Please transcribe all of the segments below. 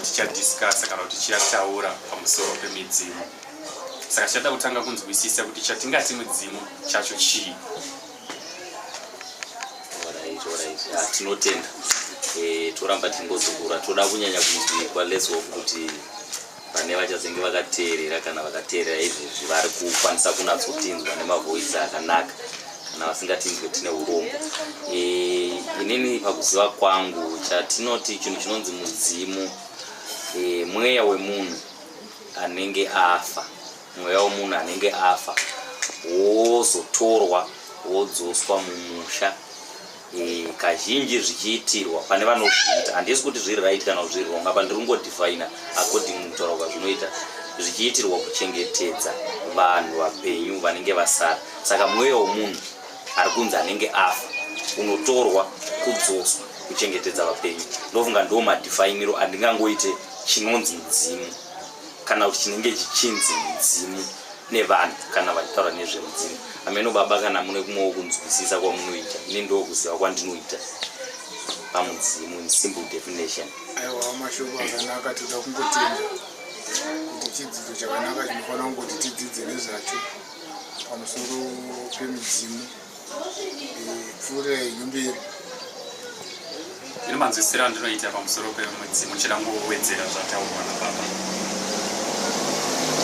tichadiscasa kana kuti tichataura pamusoro pemidzimu saka tichada kutanga kunzwisisa kuti chatingati mudzimu chacho chii ah, tinotenda eh, toramba tingozukura toda kunyanya kunzwikwa leswo kuti pane vachazenge vakateerera kana vakateerera izvezvi vari kukwanisa kunatsotinzwa nemavoisi akanaka kana vasingatinzwe tine urombo e, inini pakuziva kwangu chatinoti chinhu chinonzi mudzimu e, mweya wemunhu anenge afa mweya wemunhu anenge afa wozotorwa wodzoswa mumusha Eh, kazhinji zvichiitirwa pane vanozviita handisi kuti zviri right kana kuti zviri wrong apa ndiri kungodefina according kutaura kwazvinoita zvichiitirwa kuchengetedza vanhu vapenyu vanenge vasara saka mweya wemunhu ari kunzi anenge afa unotorwa kudzoswa kuchengetedza vapenyu ndofunga ndo madifainiro andingangoite chinonzi mudzimu kana kuti chinenge chichinzi mudzimu nevanhu kana vachitaura nezvemudzimu ameno baba kana mune kumwewo kunzwisisa kwamunoita ini ndoo kuziva kwandinoita pamudzimu in simple definition aiwa mashoko akanaka toda kungotenda kuti chidzidzo chakanaka chinofanira kungoti tidzidze nezvacho pamusoro pemudzimu ipfuure nyumbiro ine manzwisiro andinoita pamusoro pemudzimu chirangowedzera zvataurwa nababa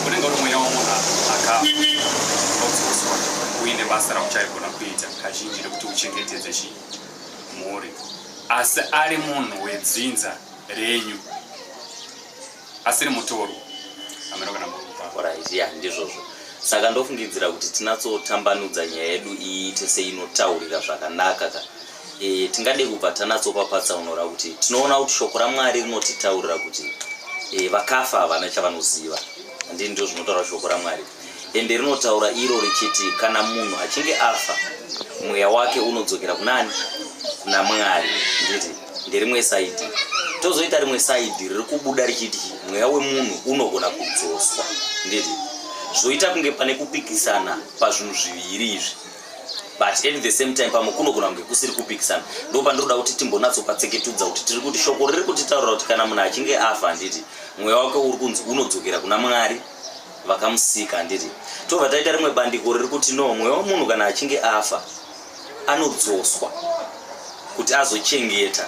unenge uri mweya wamunhu akaodzoswa uine basa rauchaigona kuita kazhinji rekuti uchengetedze chi mhuri asi ari munhu wedzinza renyu asiri mutoro hameno kana murupa Alright, yeah, ndizvozvo saka ndofungidzira kuti tinatsotambanudza nyaya yedu iite seinotaurika zvakanaka ka e, tingade kubva tanatsopa patsaunora kuti tinoona kuti shoko ramwari rinotitaurira kuti e, vakafa havana chavanoziva handii ndizvo zvinotaura shoko ramwari Ende rinotaura iro richiti kana munhu achinge afa mweya wake unodzokera kunani? Kuna Mwari. Nditi nderimwe saidi. Tozoita rimwe saidi riri kubuda richiti mweya wemunhu unogona kudzoswa. Nditi zvoita kunge pane kupikisana pazvinhu zviviri izvi but at the same time pamwe kunogona kunge kusiri kupikisana ndo pandinoda kuti timbonatsopatseketudza kuti tiri kuti shoko riri kutitaurira kuti kana munhu achinge afa handiti mweya wake uri kunzi unodzokera kuna mwari vakamusika handiti tobva taita rimwe bandiko riri kuti no mweya wemunhu kana achinge afa anodzoswa kuti azochengeta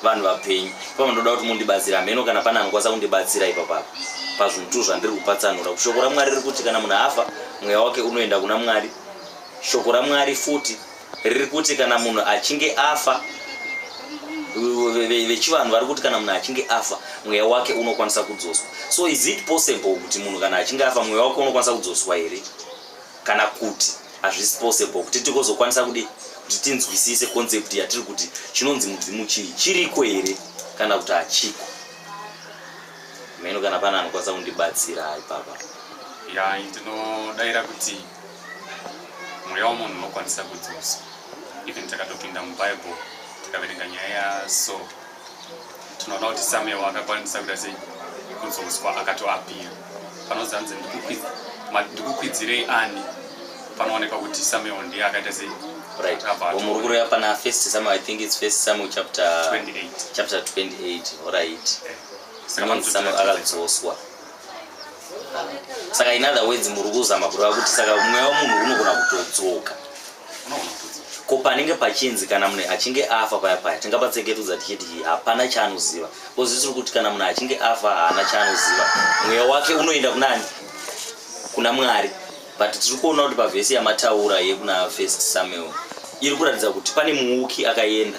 vanhu vapenyu ipapo ndoda kuti mundibatsira hameno kana pane anokwanisa kundibatsira ipapapa pazvinhu tu zvandiri kupatsanura kuti shoko ramwari riri kuti kana munhu afa mweya wake unoenda kuna mwari shoko ramwari futi riri kuti kana munhu achinge afa vechivanhu vari kuti kana munhu achinge afa mweya wake unokwanisa kudzoswa so is it possible kuti munhu kana achinge afa mweya wake unokwanisa kudzoswa here kana kuti hazvisi possible kuti tikozokwanisa kudi kuti tinzwisise concept yatiri kuti chinonzi mudzimu chii chiriko here kana kuti hachiko meno kana pana anokwanisa kundibatsira ipapa ya ndinodaira kuti mweya wemunhu unokwanisa kudzosa even takatopinda mubible tikaverenga nyaya yaso tinoona kuti samuel akakwanisa kuita sei kudzoswa akatoapira panonzi anzi ndikukwidzirei ani panoonekwa kuti samuel ndiye akaita sei muri kureva pana first samuel i think its first samuel chapter 28 chapter 28 orit akadzoswa saka in other words muri kuzama kureva kuti saka mweya wemunhu unogona kutodzoka ko panenge pachinzi kana munhu achinge afa paya paya tingapatseketudza tichiti hapana chaanoziva kozi tiri kuti kana munhu achinge afa haana chaanoziva mweya wake unoenda kunani kuna mwari but tiri kuona kuti pavhesi yamataura yekuna first samuel iri kuratidza kuti pane muuki akaenda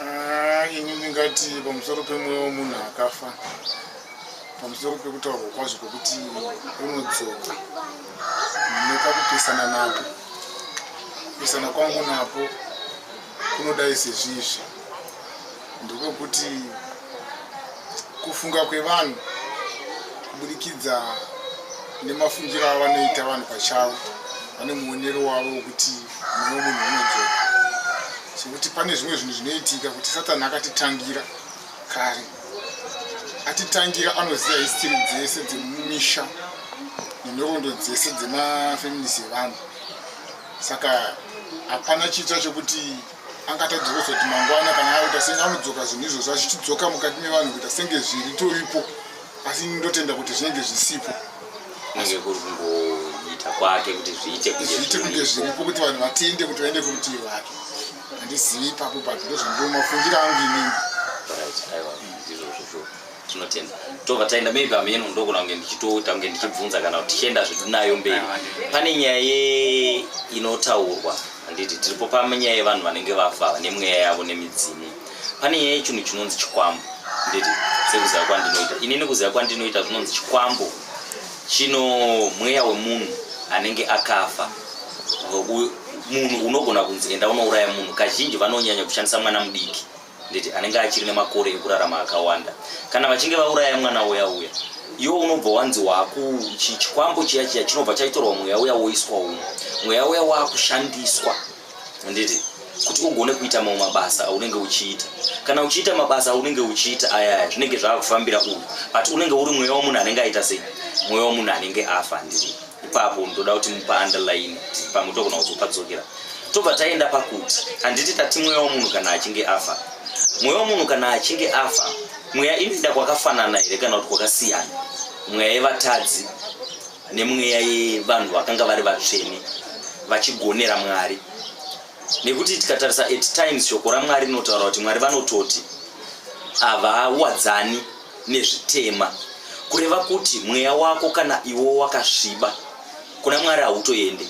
Ah, ini ndingati pamusoro pemweya wemunhu akafa pamusoro pekutaurwa kwazvo kwekuti unodzoka nekakupesana napo kupesana kwangu napo kunodai sezvizvi ndekwekuti kufunga kwevanhu kuburikidza nemafungiro avanoita vanhu pachavo vane muonero wavo wekuti mweya wemunhu unodzoka sokuti pane zvimwe zvinhu zvinoitika kuti satani akatitangira kare atitangira anoziva histiri dzese dzemumisha nenhoroondo dzese dzemafeminisi evanhu saka hapana chiitira chokuti angatadzi kuzoti mangwana kana aita senge anodzoka zvinhu izvozvo achichidzoka mukati mevanhu kuita senge zviritoripo asi ndotenda kuti zvinenge zvisipo kunenge kuri kungoita kwake kuti zviite zviite kunge zviripo kuti vanhu vatende kuti vaende kurutivi rwake handizivi ipapo but ndozvandiomafungira angu inini tinotenda tobva taenda maybe ameno ndokona kunge ndichitoita kunge ndichibvunza kana kuti tichienda zvedu nayo mberi pane nyaya ye inotaurwa handiti tiripo panyaya yevanhu vanenge vafa nemweya yavo nemidzimu pane nyaya yechinhu chinonzi chikwambo nditi sekuziva kwandinoita ini nekuziva kwandinoita zvinonzi chikwambo chino mweya wemunhu anenge akafa munhu unogona kunzi enda unouraya munhu kazhinji vanonyanya kushandisa mwana mudiki nditi anenge achiri nemakore ekurarama akawanda kana vachinge vauraya mwana uya uya iwo unobva wanzi waku chikwambo chiya chiya chinobva chaitorwa mweya uya woiswa uno mweya uya wakushandiswa handiti kuti ugone kuita mamwe mabasa aunenge uchiita kana uchiita mabasa aunenge uchiita ayaya zvinenge zvaakufambira uyu but unenge uri mweya wemunhu anenge aita sei mweya wemunhu anenge afa handiti ipapo ndoda kuti mupa underline pamwe togona kuzopadzokera tobva taenda pakuti handiti tati mweya wemunhu kana achinge afa mweya wemunhu kana achinge afa mweya inoenda kwakafanana here kana kuti kwakasiyana mweya yevatadzi nemweya yevanhu vakanga vari vatsvene vachigonera mwari nekuti tikatarisa at times shoko ramwari rinotaura kuti mwari vanototi havawadzani nezvitema kureva kuti mweya wako kana iwo wakasviba kuna mwari hautoende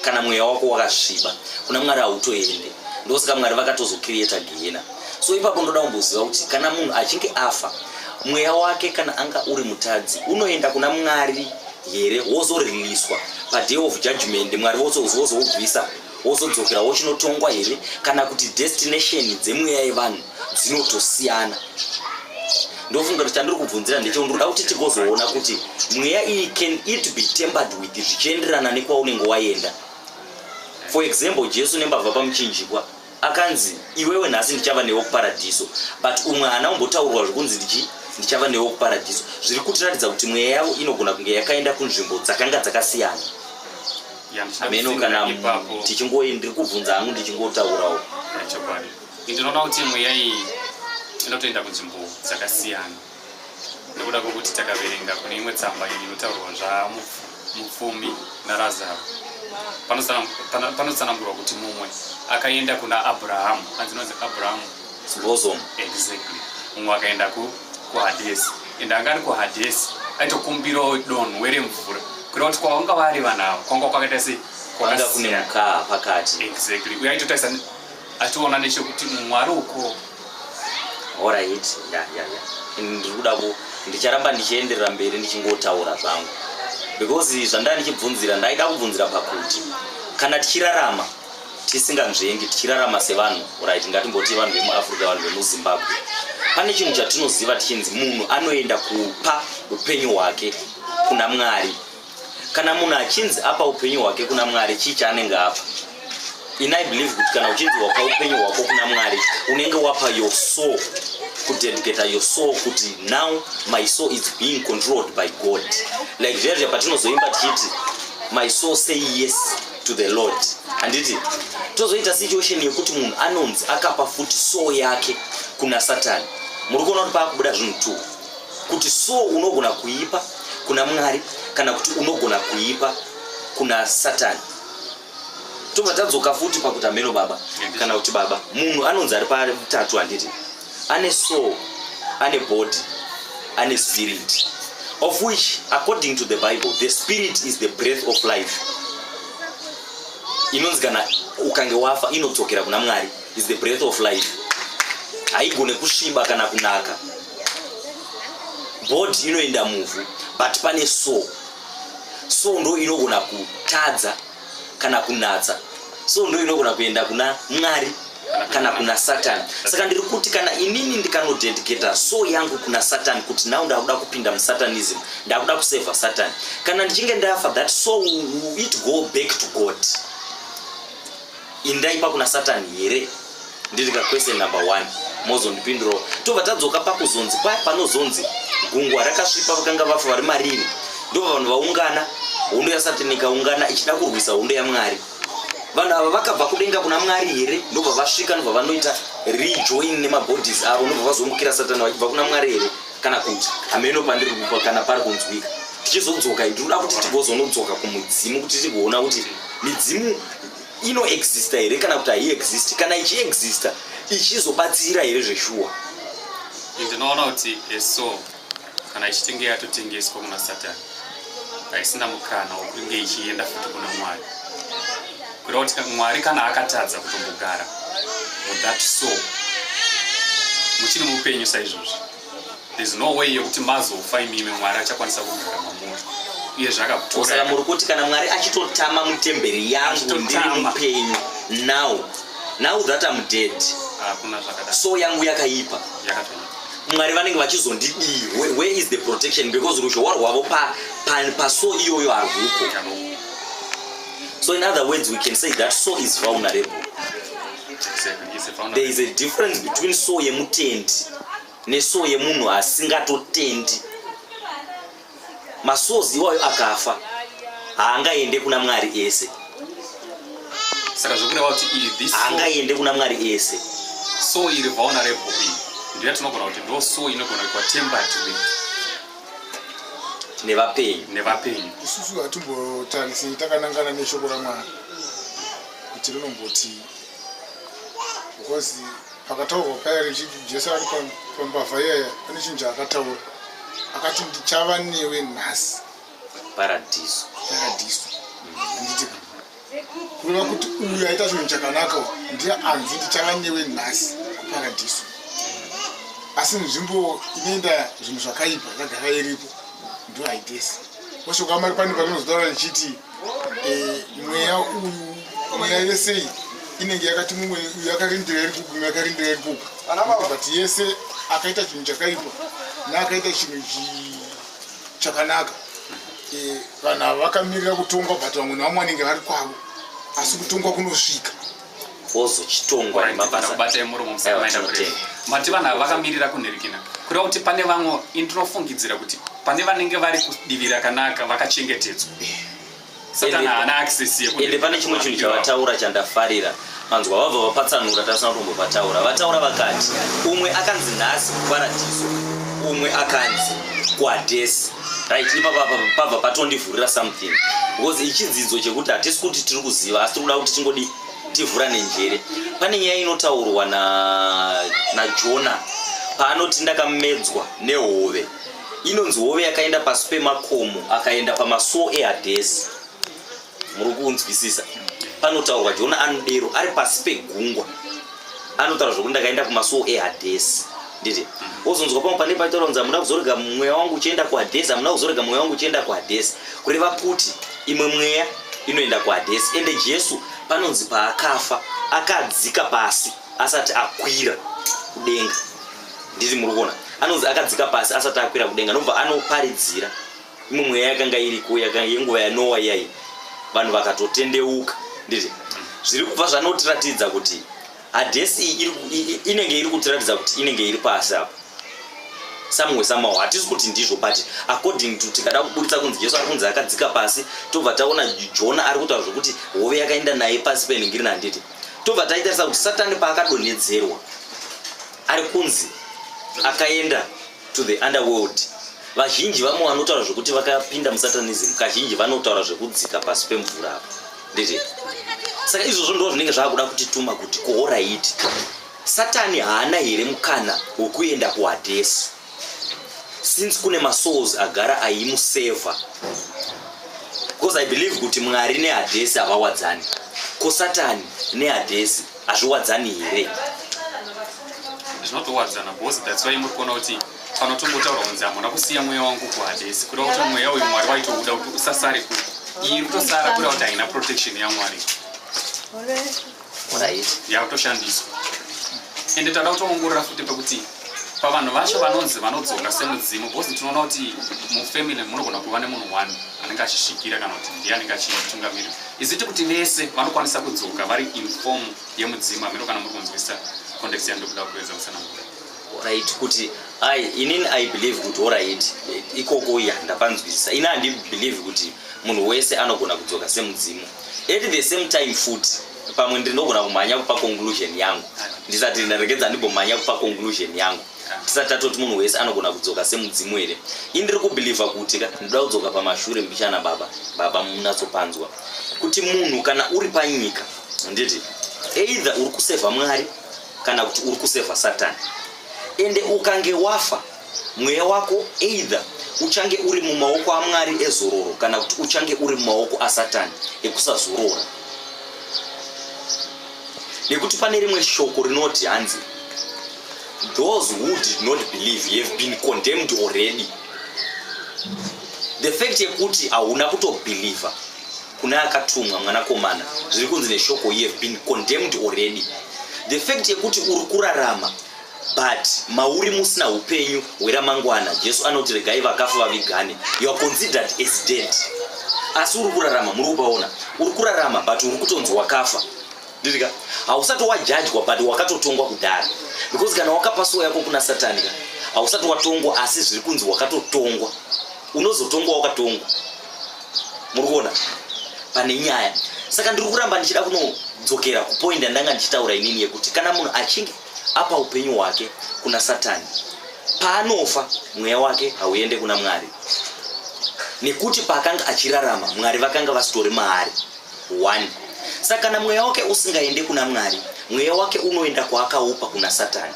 kana mweya wako wakasviba kuna mwari hautoende ndosaka mwari vakatozokiriyeta gehena so ipapo ndoda kumboziva kuti kana munhu achinge afa mweya wake kana anga uri mutadzi unoenda kuna mwari here wozoriliswa paday of judgment mwari vozoubvisa Wozodzokera wochinotongwa here kana kuti destination dzemweya yevanhu dzinotosiyana? ndofunga kuti chandiri kubvunzira ndecho ndinoda kuti tigozoona kuti mweya iyi can it be tempered with zvichienderana nekwaunenge waenda for example jesu nembavha pamuchinjikwa akanzi iwewe nhasi ndichava newe kuparadhiso but umwe haana kumbotaurwa zvekunzi ndichi ndichava newe kuparadhiso zviri kutiratidza kuti mweya yavo inogona kunge yakaenda kunzvimbo dzakanga dzakasiyana hameno kana tichingo ndiri kubvunza hangu ndichingotaurawo chokwadi ndinoona kuti mweya iyi inotoenda kunzvimbo dzakasiyana nekuda kwekuti takaverenga kune imwe tsamba inotaurwa zvamupfumi narazaro panotsanangurwa kuti mumwe akaenda kuna abrahamu anzinonzi abrahamu bosom exactly mumwe akaenda kuhadesi and anga ari kuhadhesi aitokumbirawo donho were mvura kureva kuti kwavanga vari vanhu avo kwanga kwakaita se kwanga kune mukaa pakati exactly uye aitotarisa achiona nechekuti mwari uko horit ya ya ya ndiri kuda ku ndicharamba ndichienderera mberi ndichingotaura zvangu because zvandanga ndichibvunzira ndaida kubvunzira pakuti kana tichirarama tisinganzvengi tichirarama sevanhu right ngatimboti vanhu vemuafrica vanhu vemuzimbabwe pane chinhu chatinoziva tichinzi munhu anoenda kupa upenyu hwake kuna mwari kana munhu achinzi apa upenyu hwake kuna mwari chii chaanenge apa in i believe kuti kana uchinzi wapa upenyu hwako kuna mwari unenge wapa your soul kudedicata your soul kuti now my soul is being controlled by god like zviya zviya patinozoimba tichiti my soul say yes to the lord handiti tozoita situation yekuti munhu anonzi akapa futi soo yake kuna satani muri kuona kuti paakubuda zvinhu two kuti soo unogona kuipa kuna mwari kana kuti unogona kuipa kuna satani tobva tadzoka futi pakuti hameno baba kana kuti baba munhu anonzi ari patatu handiti ane soul ane body ane spirit of which according to the bible the spirit is the breath of life inonzi kana ukange wafa inodzokera kuna mwari is the breath of life haigone kusviba kana kunaka body inoenda muvhu but pane soul soul ndo inogona kutadza kana kunatsa so ndo inogona kuenda kuna mwari kana kuna satani saka ndiri kuti kana inini ndikanodedicata so yangu kuna satani kuti now ndakuda kupinda musatanism ndakuda kusevha satani kana ndichinge ndafa that so it go back to god indaipa kuna satani here ndiri kakwese number one mozondipindurawo tobva tadzoka pakuzonzi paya panozonzi gungwa rakasvipa vakanga vafa vari marini ndobva vanhu vaungana hondo yasatani ikaungana ichida kurwisa hondo yamwari vanhu ava vakabva kudenga kuna mwari here ndobva vasvika ndobva vanoita rejoin nemabodies avo ndobva vazomukira satani vachibva kuna mwari here kana kuti hameno pandiri kupa kana pari kunzwika tichizodzoka tinoda kuti tigozonodzoka kumudzimu kuti tigoona kuti midzimu inoexista here kana kuti haiexist kana ichiexista ichizobatsira here zveshuwa ndinoona kuti eso kana ichitenge yatotengeswa kuna satani haisina mukana wokunge ichienda futi kuna mwari kureva kuti mwari kana akatadza kutombogara muthat so muchiri mupenyu saizvozvi there's no way yekuti mazofa imimi mwari achakwanisa kugara mamuri uye zvakakutoraa muri kuti kana mwari achitotama mutemberi yangu ndiri mupenyu now now that am dead ah, so yangu yakaipa mwari vanenge vachizondidii where is the protection because ruzhowa rwavo paso iyoyo harwuko so in other words we can say that so is vulnerable there is a difference between so yemutendi neso yemunhu asingatotendi masozi iwayo akafa haangaende kuna mwari ese saka zvokureva kuti ivi haangaende kuna mwari ese so iri vaona rebobi ndiya tinogona kuti ndo so inogona kuitwa tembati nevapenyu nevapenyu isusu hatimbotarisei takanangana neshoko ramwari kuti rinombotii because pakataurwa paya richiti jesu ari pambavha iyaya pane chinhu chaakataura akati ndichava newe nhasi paradhiso paradhiso anditi kureva kuti uyu aita chinhu chakanaka ndiye anzi ndichava newe nhasi kuparadhiso asi nzvimbo inoenda zvinhu zvakaipa yagara iripo ndo haitesi oshoka mari pane parinozotaura richiti mweya uyu mweya yese iyi inenge yakati mumwe uyu akarindira iri kuku mumwe akarindira iri kuku but yese akaita chinhu chakaipa naakaita chinhu chakanaka eh, vanhu ava vakamirira kutongwa but vamwe nevamwe vanenge vari kwavo asi kutongwa kunosvika ozochitongwa nemabasa kubatai muromo musamaita kure mati vanhu ava vakamirira kunherikina kureva kuti pane vamwe ini ndinofungidzira kuti pane vanenge vari kudivi rakanaka vakachengetedzwa satana haana access yekuende pane chimwe chinhu chavataura chandafarira manzwa vabva vapatsanura tasina kutombopataura vataura vakati umwe akanzi nhasi kuparadiso umwe akanzi kwadesi right ipapa pabva patondivhurira something because ichidzidzo chekuti hatisi kuti tiri kuziva asi tiri kuda kuti tingodi tivhura nenjere pane nyaya inotaurwa najona na paanoti ndakamedzwa nehove inonzi hove yakaenda pasi pemakomo akaenda pamasuo ehadhesi muri kunzwisisa panotaurwa jona anodero ari pasi pegungwa anotaura zvokuti ndakaenda kumasuo ehadhesi nditi wozonzwa pamwe pane paitaura kunzi hamuna kuzorega mweya wangu uchienda kuhadhesi hamuna kuzorega mweya wangu uchienda kuhadhesi kureva kuti imwe mweya inoenda kuhadhesi ende jesu panonzi paakafa akadzika pasi asati akwira kudenga nditi muri kuona anonzi akadzika pasi asati akwira kudenga nobva anoparidzira imwe mweya yakanga iriko yenguva yanowa iyai vanhu vakatotendeuka nditi zviri kubva zvanotiratidza kuti hadhesi inenge iri kutiratidza kuti inenge iri pasi apa samwe samawo hatisi kuti ndizvo but according to tikada kuburitsa kunzi jesu ari kunzi akadzika pasi tobva taona jona ari kutaura zvekuti hove yakaenda naye pasi penhingirina handiti tobva taitarisa kuti satani paakadonhedzerwa ari kunzi akaenda to the underworld vazhinji vamwe vanotaura zvekuti vakapinda musatanism kazhinji vanotaura zvekudzika pasi pemvura apo ndezve saka izvozvo ndo zvinenge zvakuda kuti tuma kuti kohoraiti satani haana here mukana wekuenda kuhadhesi since kune masouls agara ayimuseva because i believe kuti mwari nehadhesi havawadzani ko satani nehadhesi hazviwadzani here zvinotowadzana bhosi that's why muri kuona kuti pano tongotaura kunzi hamuna kusiya mweya wangu kuhadesi kuda kuti mweya uyu mwari waitouda kuti usasare kuko iyi kutosara kuda kuti haina protection yamwari yakutoshandiswa ende tanda kutoongorora futi pekuti pavanhu vacho vanonzi vanodzoka semudzimu because tinoona kuti mufamily munogona kuva nemunhu one anenge achisvikira kana kuti ndiye anenge achitungamirira iziti kuti vese vanokwanisa kudzoka vari inform yemudzimu hameno kana muri kunzwisa context yandikuda kuedza kusanangura right kuti i inini i believe kuti orit ikoko ya ndapanzwisisa ini handibelieve kuti munhu wese anogona kudzoka semudzimu at the same time futi pamwe ndinogona kumhanya kupa conclusion yangu ndisati ndaregedza ndimbomhanya kupa conclusion yangu tisati tatoti munhu wese anogona kudzoka semudzimu here i ndiri kubhilivha kuti ka ndinoda kudzoka pamashure mbichana baba baba munatsopanzwa kuti munhu kana uri panyika handiti either uri kusevha mwari kana kuti uri kusevha satani ende ukange wafa Mweya wako either uchange uri mumaoko aMwari ezororo kana kuti uchange uri mumaoko aSatani ekusazorora. Nekuti pane rimwe shoko rinoti hanzi those who did not believe have been condemned already the fact yekuti hauna kutobhilivha kune akatumwa mwanakomana zviri kunzi neshoko you have been condemned already the fact yekuti uri kurarama But mauri musina upenyu hweramangwana. Jesu anoti regai vakafa vavigane. You are considered as dead. Asi uri kurarama, muri kupaona. Uri kurarama but uri kutonzi wakafa. Ndirika. Hausati wajajwa but wakatotongwa kudhara. Because kana wakapa soul yako kuna Satani ka. Hausati watongwa asi zviri kunzi wakatotongwa. Unozotongwa wakatongwa. Muri kuona? Pane nyaya. Saka ndiri kuramba ndichida kunodzokera kupoint yandanga ndichitaura inini yekuti kana munhu achinge apa upenyu hwake kuna satani paanofa mweya wake hauende kuna mwari nekuti paakanga achirarama mwari vakanga vasitori maari one saka kana mweya wake usingaende kuna mwari mweya wake unoenda kwaakaupa kuna satani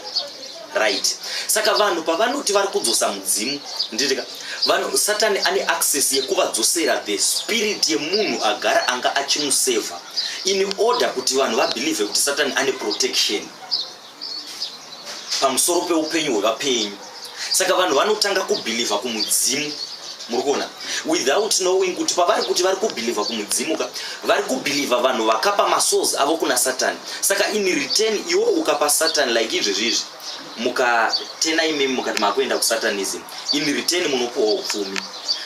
right saka vanhu pavanoti vari kudzosa mudzimu nditika vanhu satani ane access yekuvadzosera the spirit yemunhu agara anga achimusevha in order kuti vanhu vabelieve kuti satani ane protection pamusoro peupenyu hwevapenyu saka vanhu vanotanga kubhilivha kumudzimu muri kuona without knowing kuti pavari kuti vari kubhilivha kumudzimu ka vari kubhilivha vanhu vakapa masource avo kuna satani saka in return iwo ukapa satani like izvezvi izvi mukatena imimi mukati makuenda kusatanism in return munopuwa upfumi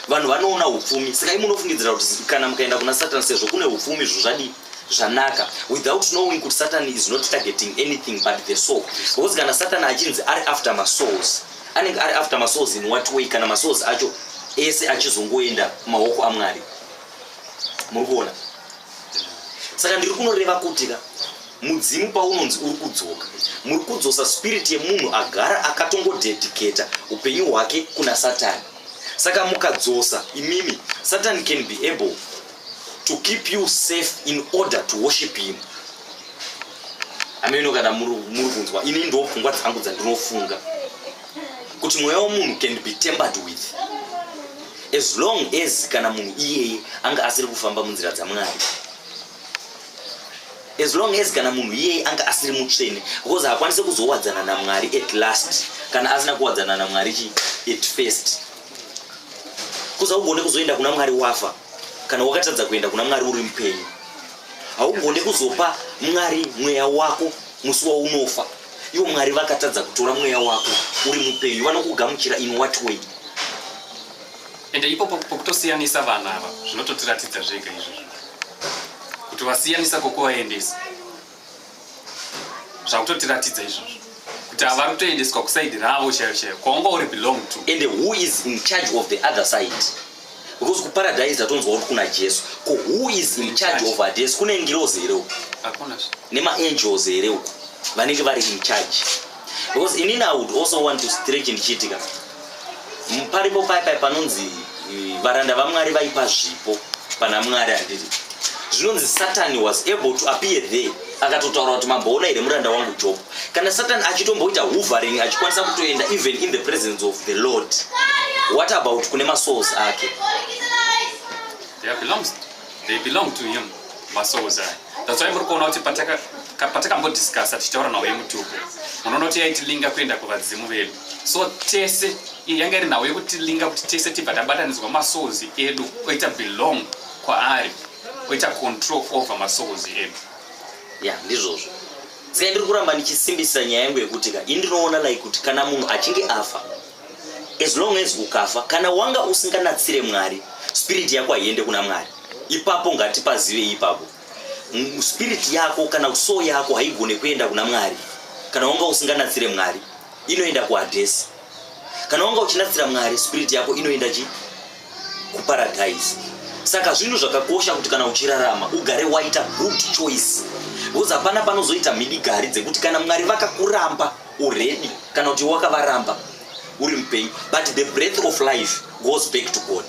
vanhu vanoona upfumi saka imunofungidzira kuti kana mukaenda kuna satan sezvo kune upfumi zvo zvadii zvanaka without knowing kuti satan is not targeting anything but the soul because kana satan achinzi ari after masouls anenge ari after masouls in what way kana masouls acho ese achizongoenda maoko amwari muri kuona saka ndiri kunoreva kuti ka Mudzimu paunonzi uri kudzoka, muri kudzosa spirit yemunhu agara akatongodedicata upenyu hwake kuna Satani. Saka mukadzosa imimi, Satani can be able to keep you safe in order to worship him. Ameno kana muri kunzwa, ini ndo pfungwa dzangu dzandinofunga kuti mweya wemunhu can be tempered with as long as kana munhu iyeye anga asiri kufamba munzira dzamwari as long as kana munhu iyeye anga asiri mutsvene because haakwanise kuzowadzana namwari at last kana asina kuwadzana namwari chi at first kuza ugone kuzoenda kuna mwari wafa kana wakatadza kuenda kuna mwari uri mupenyu haugone kuzopa mwari mweya wako musi waunofa ivo mwari vakatadza kutora mweya wako uri mupenyu vanokugamuchira in what way ende ipo pokutosiyanisa vana ava zvinototiratidza zvega izvozvo kuti vasiyanisa kokuvaendesa zvakutotiratidza izvozvo kuti havari kutoendeswa kusaidi ravo chaiyo chaiyo kwaunga uri belong to and who is in charge of the other side because kuparadise atonzwa kuti kuna jesu ko who is in charge of ades kune ngirozi here uku nemaangels here uku vanenge vari in charge because inini i would also want to stretch ndichiitika paripo pai pai panonzi eh, varanda vamwari vaipa zvipo pana mwari andiri zvinonzi satani was able to appear there akatotaura kuti mamboona here muranda wangu job kana satani achitomboita hovering achikwanisa kutoenda even in the presence of the lord what about kune masouls ake they belong to him masouls aya that's why muri kuona kuti patakambodiscussa tichitaura nhau yemutuku munoona kuti yaitilinga kuenda kuvadzimu vedu so tese yanga iri nhau yekutilinga kuti tese tibva tabatanidzwa masouls edu oita belong kwaari oita control over masouls edu ya ndizvozvo saka ndiri kuramba ndichisimbisisa nyaya yangu yekuti ka ini ndinoona like kuti kana munhu achinge afa as long as ukafa kana wanga usinganatsire mwari spirit yako haiende kuna mwari ipapo ngatipazive ipapo spirit yako kana so yako haigone kuenda kuna mwari kana wanga usinganatsire mwari inoenda kuhadhesi kana wanga uchinatsira mwari spirit yako inoenda chi kuparadhaisi saka zvinhu zvakakosha kuti kana uchirarama ugare waita good choice because hapana panozoita mhidigari dzekuti kana mwari vakakuramba uredi kana kuti wakavaramba uri mupenyu but the breath of life goes back to god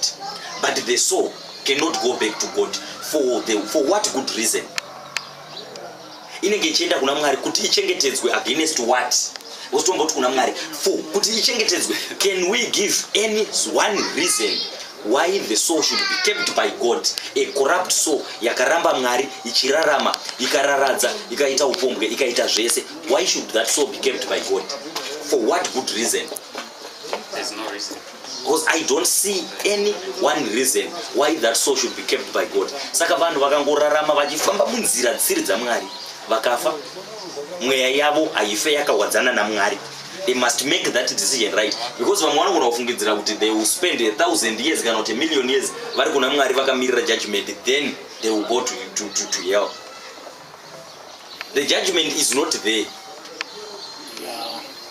but the soul cannot go back to god for, the, for what good reason inenge ichienda kuna mwari kuti ichengetedzwe against what wotomboti kuna mwari for kuti ichengetedzwe can we give any one reason why the soul should be kept by god a corrupt soul yakaramba mwari ichirarama ikararadza ikaita upombwe ikaita zvese Why should that soul be kept by God? For what good reason? There's no reason. Because I don't see any one reason why that soul should be kept by God. Saka vanhu vakangorarama vachifamba munzira dzisiri dzaMwari vakafa mweya yavo haife yakawadzana naMwari. They must make that decision right because vamwe vanogona kufungidzira kuti they will spend a thousand years kana kuti a million years vari kuna Mwari vakamirira judgment then they will go to, to, to, to hell. the judgment is not there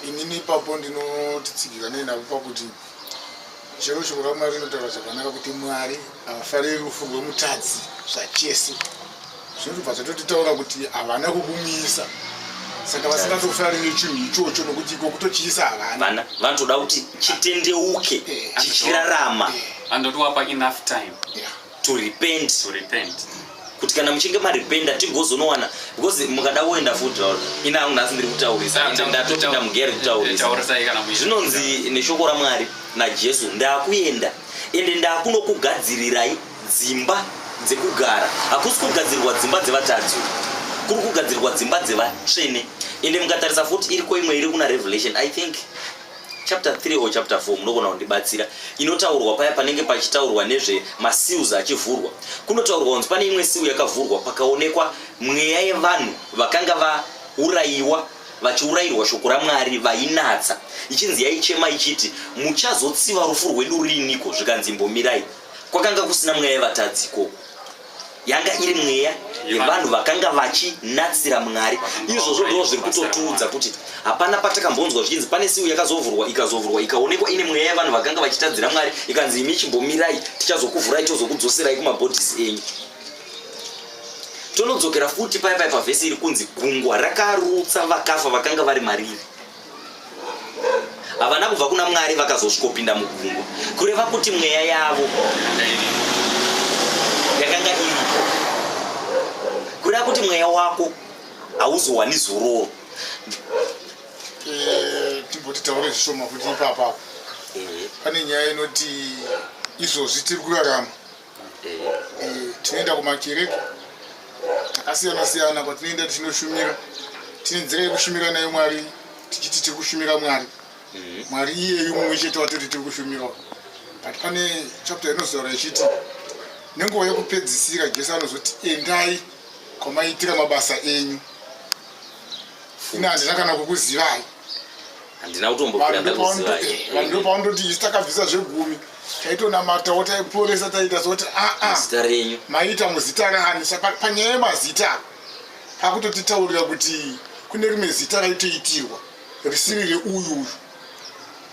inini ipapo ndinotitsigirwa neinavo pakuti chero shoko ramwari rinotaura zvakanaka kuti mwari havafariri rufu rwemutadzi zvachese zvinobva zvatotitaura kuti havana kukumisa saka vasingatofariri chinhu ichocho nokuti iko kutochiisa havana vanotoda kuti chitendeuke eh, chichirarama eh. andotiwapa enough time yeah. to repent to repent kuti kana muchinge marependa tigozonowana because mukada kuenda futi ina hangu nhasi ndiri kutaurisa and ndatopinda mugere kutaurisa zvinonzi neshoko ramwari najesu ndakuenda ende ndakunokugadzirirai dzimba dzekugara hakusi kugadzirwa dzimba dzevatadzi kuri kugadzirwa dzimba dzevatsvene ende mukatarisa futi iriko imwe iri kuna revelation i think chapter 3 or chapter 4 munogona kundibatsira inotaurwa paya panenge pachitaurwa nezve maseals achivhurwa kunotaurwa kunzi pane imwe seal yakavhurwa pakaonekwa mweya yevanhu vakanga vaurayiwa vachiurayirwa shoko ramwari vainatsa ichinzi yaichema ichiti muchazotsiva rufu rwedu riiniko zvikanzi imbomirai kwakanga kusina mweya yevatadzi ikoko yanga iri mweya yevanhu vakanga vachinatsira mwari izvozvo ndoo zviri kutotiudza kuti hapana patakambonzwa zvichinzi pane siu yakazovhurwa ikazovhurwa ikaonekwa ine mweya yevanhu vakanga vachitadzira mwari ikanzi imi chimbomirai tichazokuvhurai tozokudzoserai kumabhodhisi enyu tonodzokera futi paipai pavhesi iri kunzi gungwa rakarutsa vakafa vakanga vari mariri havana kubva kuna mwari vakazosvikopinda mugungwa kureva kuti mweya yavo yakanga iripo kureva kuti mweya wako hauzowani zororo eh, timboti taure zvishoma kuti ipapa pane nyaya inoti izvozvi tiri kurarama Eh, tinoenda kumakereke takasiyana siyana kwatinoenda tichinoshumira tine nzira yekushumira nayo mwari tichiti tiri kushumira mwari mhm. mwari iyeyu mumwe chete watoti tiri kushumirawo but pane chapter inozotaura ichiti nenguva yekupedzisira jesu anozoti endai kwamaitira mabasa enyu ini handina kana kukuzivai handina kutombokuda ndakuziva vanhu pavanoti isu takabvisa zvegumi taitonamatawo taiporesa taiita zoti aa ah, ah, zita renyu maita muzita rani panyaya yemazita pakutotitaurira kuti kune rimwe zita raitoitirwa risiri reuyu uyu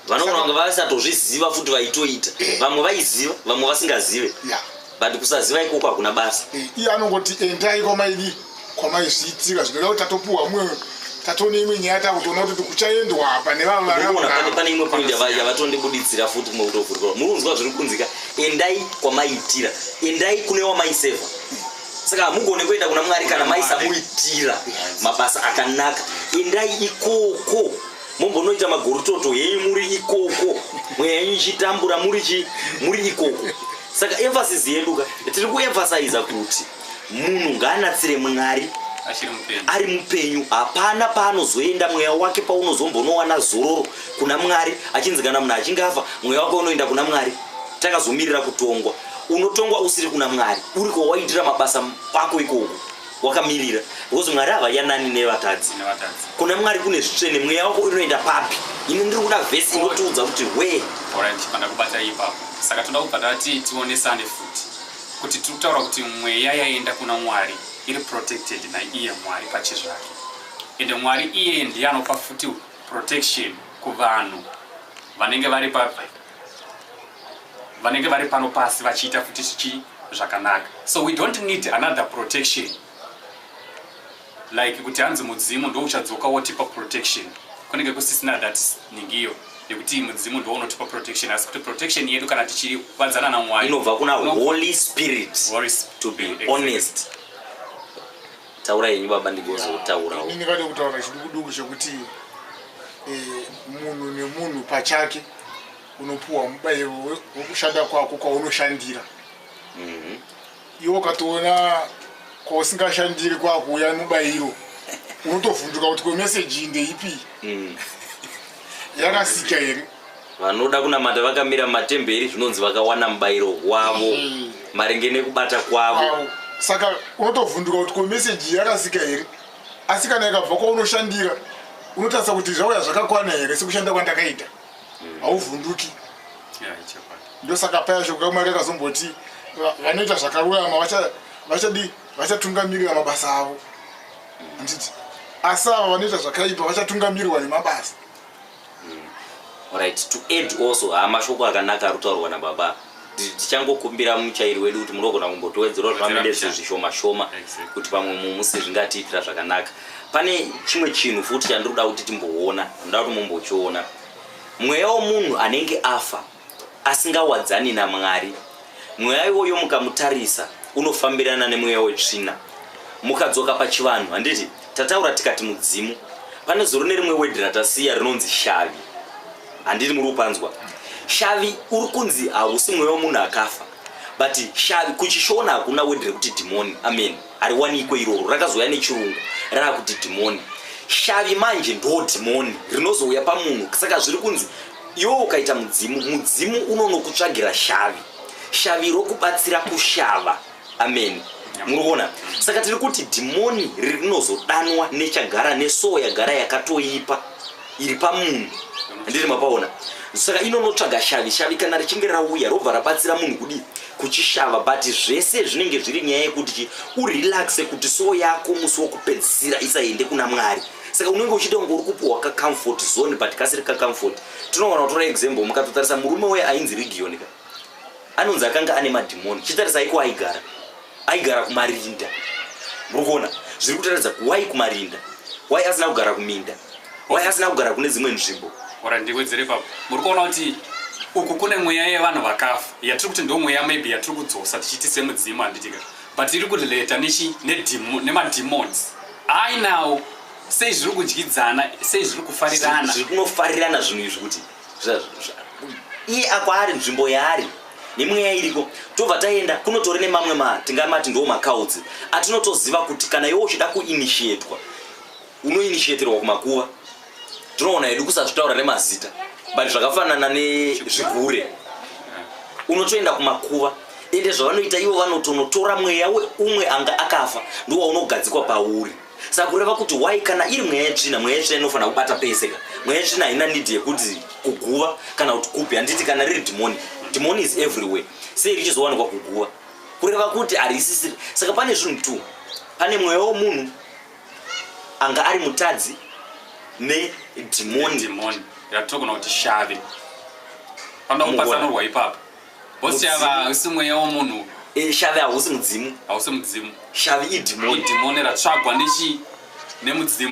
vanogona kunge vasatozviziva futi vaitoita eh. vamwe vaiziva vamwe vasingazive yeah. but kusaziva ikoko hakuna basa eh, iye anongoti endai kwamaidi kwamaizviitika zvinoda kuti tatopuhwa mumwe tatone imwe nyaya takutoona kuti kuchaendwa apa nevavapane imwe poindi yavatondibuditsira futi kumwe kutovhurikwa muri kunzwa zviri kunzika endai kwamaiitira endai kune wamaiseva saka hamugone kuenda kuna mwari kana maisamuitira mabasa akanaka endai ikoko mombonoita magorototo henyu muri ikoko mweya yenyu ichitambura muri chi muri ikoko saka emphasis yedu ka tiri kuemphasiza kuti munhu ngaanatsire mwari ari mupenyu hapana paanozoenda mweya wake paunozombonowana zororo kuna mwari achinzi kana munhu achinge afa mweya wake unoenda kuna mwari takazomirira kutongwa unotongwa usiri kuna mwari uri kwawaitira mabasa ako ikoko wakamirira because mwari havadya nani nevatadzi kuna mwari kune zvitsvene mweya wako unoenda papi ini ndiri kuda vhesi inotiudza kuti wee pandakubata ipapo saka toda kubva tati tionesane futi kuti tiri kutaura kuti mweya yaenda kuna mwari iri protected naiye mwari pache zvake ende mwari iye ndiye anopa futi protection kuvanhu vanenge vari papi vanenge vari pano pasi vachiita futi zvichi zvakanaka so we don't need another protection like kuti hanzi mudzimu ndo uchadzoka wotipa protection kunenge kusisina that ningiyo yekuti mudzimu ndo unotipa protection asi kuti protection yedu kana tichivanzana namwari inobva kuna holy spirit to be honest taura yenyu baba ndigozotaurawo ini vade kutaura chidukuduku chekuti eh, munhu nemunhu pachake unopuwa mubayiro wekushanda kwako kwaunoshandira mhm. iwe ukatoona kwausingashandiri kwakuuya mubayiro unotovhunduka kuti kwemeseji ndeipi mhm. yakasika here vanoda kunamata vakamira mumatemberi zvinonzi vakawana mubayiro wavo mhm. maringe nekubata kwavo saka unotovhunduka kuti kwemeseji yakasika here asi kana ikabva kwaunoshandira unotarisa kuti zvauya zvakakwana here sekushanda kwandakaita mm. hauvhunduki ndosaka paya shoko mwari akazomboti vanoita zvakarurama vachadii vachatungamirira mabasa avo handiti asi ava vanoita zvakaipa vachatungamirirwa nemabasa Alright, to end also haa mashoko akanaka ari kutaurwa nababa Ti- tichangokumbira muchairi wedu kuti munogona kumbotiwedzerawo Wedzera zvamendezvo mbichana. zvishoma shoma Exactly. kuti pamwe mumwe musi zvingatiitira zvakanaka pane chimwe chinhu futi chandiri kuda kuti timboona ndoda kuti mumbochiona mweya wemunhu anenge afa asingawadzani naMwari. Mweya iwoyo mukamutarisa unofambirana nemweya wetsvina. Mukadzoka pachivanhu, handiti tataura tikati mudzimu, pane zuro nerimwe wedhi ratasiya rinonzi shavi. Handiti muri kupanzwa? Shavi uri kunzi hausi mweya wemunhu akafa but shavi kuchishona hakuna wedhi rekuti dhimoni amen hariwanikwe iroro rakazouya nechirungu raakuti dhimoni shavi manje ndo dhimoni rinozouya pamunhu saka zviri kunzi Iwe ukaita mudzimu, mudzimu unonokutsvagira shavi, shavi rokubatsira kushava. Ameni. Muri kuona? Saka tiri kuti dhimoni rinozodanwa nechagara nesoo yagara yakatoipa iri pamunhu. Handiti mapaona? Saka inonotsvaga shavi, shavi kana richinge rauya robva rabatsira munhu kudii? Kuchishava, but zvese zvinenge zviri nyaya yekuti chi urelaxe kuti soo yako musi wokupedzisira isaende kuna Mwari. saka unenge uchiita kunge uri kupiwa kacomfort zone but kasiri kacomfort tinogona kutora example mukatotarisa murume uye ainzi region ka anonzi akanga ane madhimoni chitarisa aiko aigara aigara kumarinda muri kuona zviri kutaridza wai kumarinda wai asina kugara kuminda wai asina kugara kune dzimwe nzvimbo ora ndiwedzere papo muri kuona kuti uku kune mweya yevanhu vakafa yatiri kuti ndo mweya maybe yatiri kudzosa tichiiti semudzimu handiti ka but iri kurelata nemademons ne Hayi now sei zviri kudyidzana sei zviri kufarirana zviri kunofarirana zvinhu izvi kuti iye akwaari nzvimbo yaari nemweya iriko tobva taenda kunotore nemamwe ma tingamati ndoo macounts atinotoziva kuti kana iwe uchida kuinishietwa unoinishiatirwa kumakuva tinoona hedu kusazvitaura nemazita but zvakafanana nezvigure unotoenda kumakuva ende zvavanoita ivo vanotonotora mweya weumwe anga akafa ndowaunogadzikwa pauri saka kureva kuti why kana iri mweya yetsvina mweya yetsvina inofanira kubata pese ka mweya yetsvina haina nidi yekuti kuguva kana kuti kupi handiti kana riri dhimoni dhimoni is everywhere sei richizowanikwa kuguva kureva kuti harisisiri saka pane zvinhu two pane mweya womunhu anga ari mutadzi nedhimoni dhimoni yatogona kuti shave panoda Mugona. kupatsanurwa ipapo bosi Mudzimu. yava hausi mweya womunhu Eh, shave hausi mudzimu hausi mudzimu shave idhimoni idhimoni ratsvagwa nechi nemudzimu